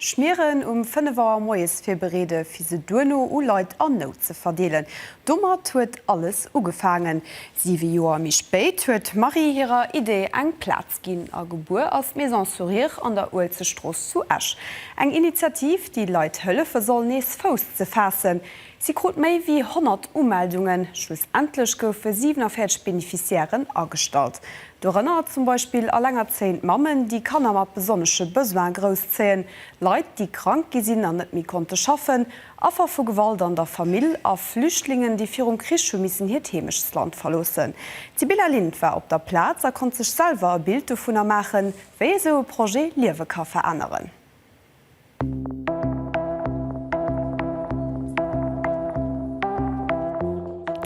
Schmieren um 5 Auer moies virbereede fir se duerno u Leit an Nout ze verdeelen. Domat huet alles ugefaangen. Siwe Joer méi spéit huet d'Marie hirer Idee eng Plaz ginn a gebuer ass d'Maison Sourire an der Uelzechtstrooss zu Esch. Eng Initiativ, déi Leit hëllefe soll nees Fouss ze faassen. Si krut méi wéi 100 Umeldungen. Schlussendlech goufe 47 Beneficiairen agestallt. Dorënner zum Beispill elengerzéiend Mammen, déi Kanner mat besonnesche Besoine grousszéien, Leit, déi krank gi sinn an net méi konnte schaffen, Affer vu Gewalt an der Famill a Flüchtlingen, déi virum Krich hu missen hiert Heemechtsland verloossen. D'Sibylla Lind war op der Plaz a konnt sech selwer e Bild dovunner maachen, wéi esou e Projet Liewe ka veränneren.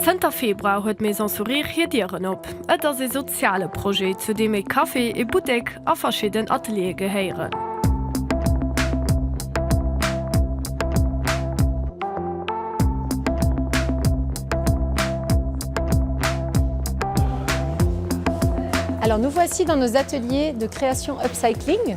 Zënter Februar huet d'Maison Sourire hir Dieren op. Et ass ee soziale Projet, zu deem ee Café, ee Buttek a verschidden Ateliere gehéieren. Alors nous voici dans nos ateliers de création upcycling.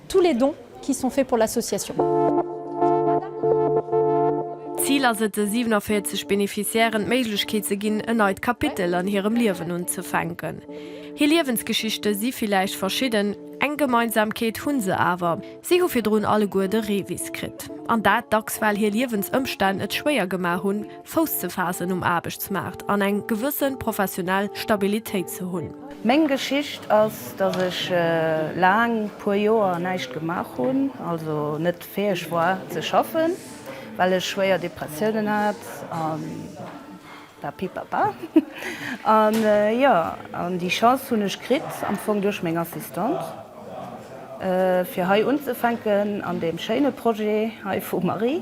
Tous les dons qui sont faits pour l'association. D'Zil ass et, de 47 Beneficiairen d'Méiglechkeet ze ginn, en neit Kapitel an hirem Liewen unzefänken. Hir Liewensgeschichte si villäicht verschidden, eng Gemeinsamkeet hu se awer, Si hu virdrun alleguer de Revis kritt, an dat dacks well hir Liewensëmstänn et schwéier gemaach hunn, Fouss ze faassen um Aarbechtsmaart an eng gewëssen professionell Stabilitéit ze hunn. Meng Geschicht ass, dass ech laang puer Joer näischt gemaach hunn, also net fäeg war ze schaffen, well ech schwéier Depressiounen hat an papipapa. An jo, an déi Chance hunn ech kritt, am Fong duerch meng Assistante, fir hei unzefänken an deem schéine Projet hei vum Marie.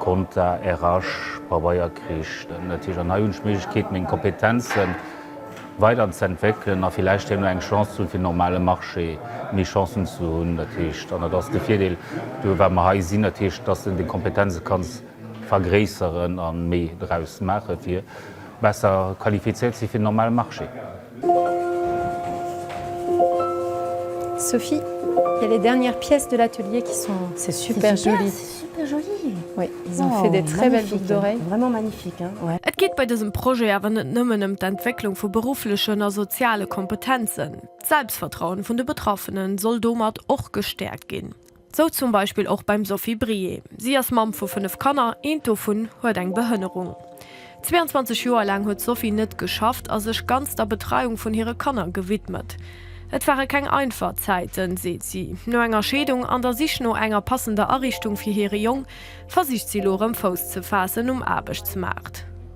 Compta, RH, Pabeier kricht en natierlech an hei hunn ech d'Méiglechkeet meng Kompetenzen weider ze entwéckelen a villäicht herno eng Chance ze hunn fir den normale Marché méi Chancen ze hunn. Dat heescht, an dat ass de Virdeel do wat mer hei sinn, dat heescht dass de deng Kompetenze kanns vergréisseren a méi draus maache fir besser qualifizéiert ze si fir den normale Marché. Sophie, il y a les dernières pièces de l'atelier qui sont, c'est super joli. C'est super joli. Oui, ils ont fait des très belles boucles d'oreilles. Vraiment magnifique. Et geet bei dësem Projet awer net nëmmen ëm d'Entwécklung vu berufflechen a soziale Kompetenzen. D'Selbstvertrauen vun de Betraffenen soll domat och gestäerkt ginn. Sou zum Beispill och beim Sophie Brié. Si ass Mamm vu fënnef Kanner, eent dovun huet eng Behënnerung. 22 Joer laang huet d'Sophie net geschafft a sech ganz der Betreiung vun hire Kanner gewidmet. Et ware keng einfach Zäiten, seet si. No enger Scheedung an der Sich no enger passender Ariichtung fir hire Jong versicht si elo erëm Fouss ze faassen um Aarbechtsmaart.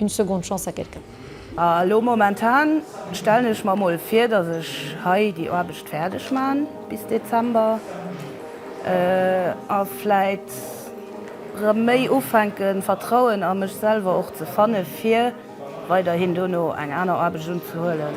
Une seconde chance à quelqu'un. A lo momentan stellen ech mer mol vir, dass ech hei déi Aarbecht fäerdeg man bis Dezember a vläit rëm méi ufänken Vertrauen a mech selwer och ze fanne fir weiderhin dono eng aner Aarbecht unzehuelen.